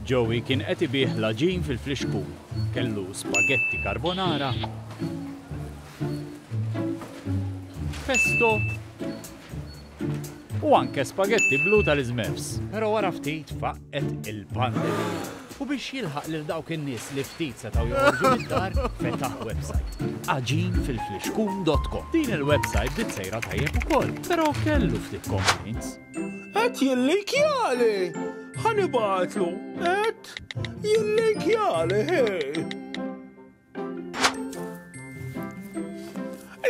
Joey kien qed ibigħ l-għaġin fil-flixkun. Kellu spaghetti carbonara, pesto u anke spaghetti blu tal-iżmefs. Però wara ftit faqqgħet il-pandemija u biex jilħaq lil dawk in-nies li ftit setgħu joħorġu mid-dar, fetaħ websajt, għaġinfilflixkun.com. Din il-websajt bdiet sejra tajjeb ukoll, però kellu ftit complaints. Qed jillinkjali! Ħa nibgħatlu, qed jillinkjali, hej!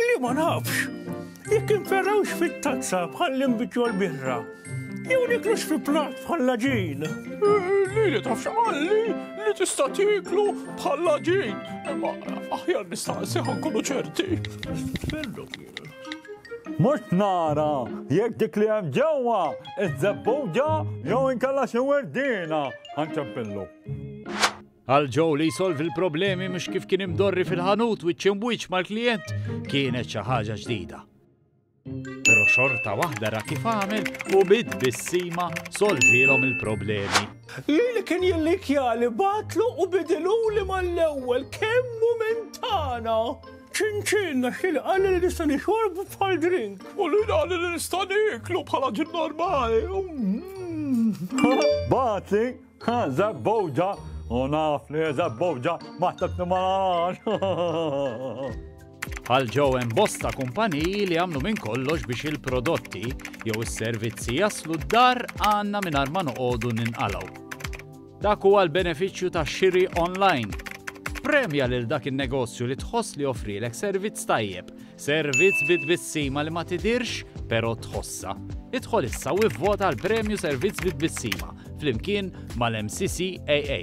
Li ma nafx, jekk inferrawx fit-tazza bħall-inbitju l-birra, jew niklux fi plat bħalla ġin. Li li tafx għalli li tista' tiklu bħalla ġin. Imma aħjar nistaqsi ħankunu ċerti. Mort nara jekk dik li hemm ġewwa iż-żebbuġa jew inkella xi werdiena ħanċempillu. Għal ġew li jsolvi l-problemi mhux kif kien imdorri fil-ħanut wiċċ imwiċċ mal-klijent kienet xi ħaġa ġdida. Però xorta waħda ra kif għamel u bid bissima solvilhom il-problemi. Li li kien jillikjali batlu u bidiluli mal-ewwel kemmu minn tagħna. Ċin-ċin għax kien qalli li nista' nixorbu bħal drink. U li qalli li nista' niklu bħala ġin normali. Bazi, ha, zabbowġa, u naf li zabbowġa ma tabni ma Għal ġew hemm bosta kumpaniji li għamlu minn kollox biex il-prodotti jew is-servizzi jaslu d-dar għandna mingħajr ma noqogħdu ninqalgħu. Dak huwa l-benefiċċju ta' xiri online. Ppremja lil dak in-negozju li tħoss li joffrielek servizz tajjeb, servizz bi tbissima li ma tidhirx però tħossha. Idħol issa u ivvota għal Premju Servizz bi Tbissima flimkien mal-MCCAA.